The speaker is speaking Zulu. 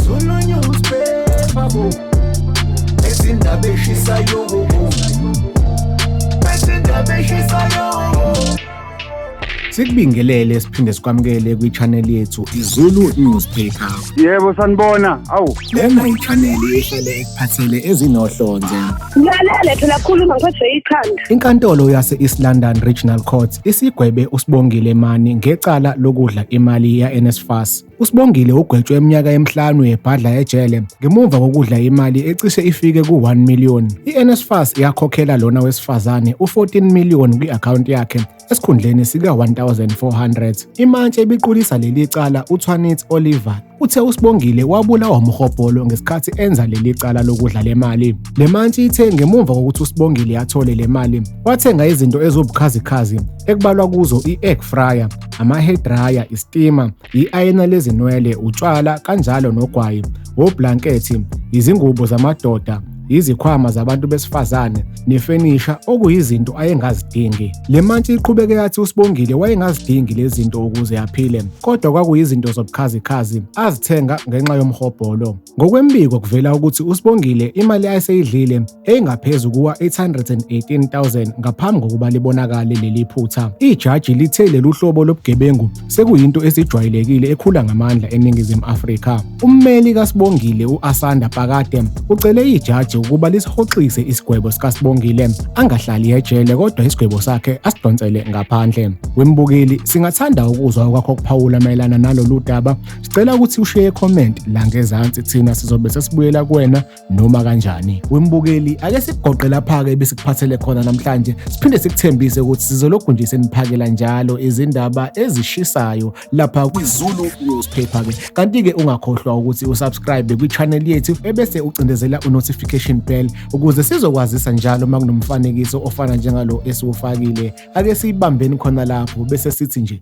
Zulu newspaper bo Ezindaba eshisayo bo Ezindaba eshisayo Sikubingelele siphinde sikwamukele kwi-channel yethu iZulu Newspaper. Yebo sanibona. Awu, Lena yichaneli ehlale ekuphathele ezinohlonze. Ngilalele phela khuluma ngiphathwe ikhanda. Inkantolo yase-East London Regional Court isigwebe uSibongile Mani ngecala lokudla imali ya-NSFAS. USibongile ugwetshwe iminyaka emihlanu yebhadla ejele ngemuva kokudla imali ecishe ifike ku-1 million. I-NSFAS yakhokhela lona wesifazane u-14 million kwi-akhawunti yakhe Esikhundleni sika-1400, imantshi ebiqulisa leli cala uThwanitsi Oliver uthe uSibongile wabulawa umhobholo ngesikhathi enza leli cala lokudla le mali. Le mantshi ithe ngemuva kokuthi uSibongile athole le mali, wathenga izinto eziwubukhazikhazi ekubalwa kuzo i-egg fryer, ama-hair dryer, istima i-ayina lezinwele, utshwala kanjalo nogwayi, woblankethi, izingubo zamadoda, izikhwama zabantu besifazane nefenisha okuyizinto ayengazidingi. Le mantshi iqhubeke yathi uSibongile wayengazidingi lezi zinto ukuze aphile kodwa kwakuyizinto zobukhazikhazi azithenga ngenxa yomhobholo. Ngokwembiko kuvela ukuthi uSibongile imali ayeseyidlile eyingaphezu kuwa-818,000 ngaphambi kokuba libonakale leli phutha. Ijaji lithe lelu hlobo lobugebengu sekuyinto esijwayelekile ekhula ngamandla eNingizimu Afrika. Ummeli kaSibongile u-Asanda Pakade ucele ijaji ukuba lisihoxise isigwebo sikaSibongile angahlali ejele kodwa isigwebo sakhe asidonsele ngaphandle. Wembukeli, singathanda ukuzwa okwakho kuphawula mayelana nalolu daba Sicela ukuthi ushiye comment la ngezansi thina sizobe sesibuyela kuwena noma kanjani. Wembukeli ake sigoqe lapha ke besikuphathele khona namhlanje. Siphinde sikuthembise ukuthi sizolokhu nje seniphakela njalo izindaba ezishisayo lapha kwiZulu newspaper ke. Kanti ke ungakhohlwa ukuthi usubscribe kwi channel yethu ebese ucindezela u notification bell ukuze sizokwazisa njalo uma kunomfanekiso ofana njengalo esiwufakile. Ake siyibambeni khona lapho bese sithi nje